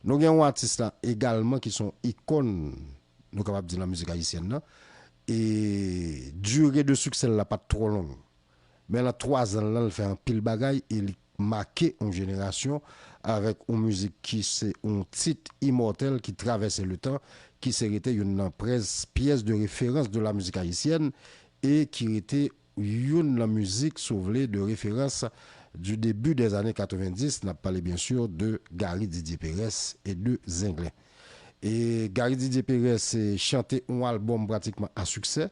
Nou gen yon atis la egalman ki son ikòn nou kapab di nan mizik ayisyèn nan e dire de siksè l la pat twò long men lan 3 zan l lan l fè anpil bagay e li make yon jenerasyon avèk yon mizik ki se yon tit imòtèl ki travèse le tan ki se rete youn nan pyès de referans de la mizik ayisyèn e ki rete youn lan mizik si w vle de referans du début des années 90, n ap pale byen sur de Gary Didier Perès et de Zenglen. E Gary Didier Perès chante on album pratikman a succès,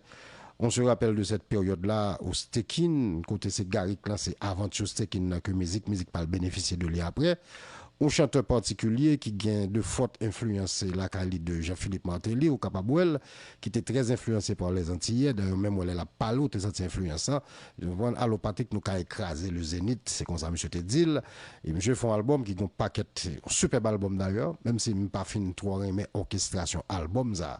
on se rappelle de cette période là au Stekin, kote se Gary k lanse aventure Stekin nan ke mizik mizik pa l benefisye de li aprè. On chanteur particulier ki gen de fort influence lakay li de Jean-Philippe Martelly, ou kapab wè l. ki te trè enfliyanse pa lè zantiyè, dayè menm wè lè lap pale ou te santi enfliyans sa, ou konprann, alopatik nou ka ekraze le zenith, se konsa misye te dil, e misye fon album ki gen yon pakèt, yon sipèb album dayè, menm si m pa fin twò renmen òkestrasyon album sa,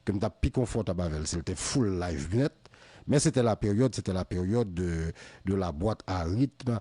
ke m tap pi konfòtab avèl sil te full live nèt, men sete la peryòd, sete la peryòd de la boîte à rythme,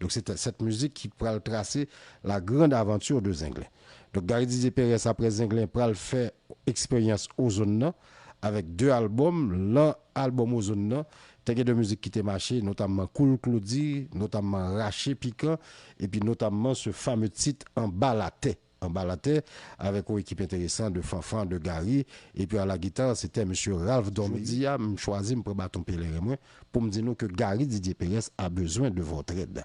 Donk se sèt mizik ki pral trase la grande aventure de Zenglen. Donk Gary Didier Perès aprè Zenglen pral fè eksperyans Ozone nan avèk 2 albòm, lan albòm Ozone nan te gen 2 mizik ki te mache notamman Cool Claudy, notamman Rache Pikan epi notamman ce fameux titre Anba la terre. Anba latè, avèk yon ekip enteresan de Fanfan, de Gary, epi a la guitare se tè Msye Ralph Dormeus. Jodi a, m chwazi m pran baton peleren mwen pou m di nou ke Gary Didier Perens a bezwen de votre aide.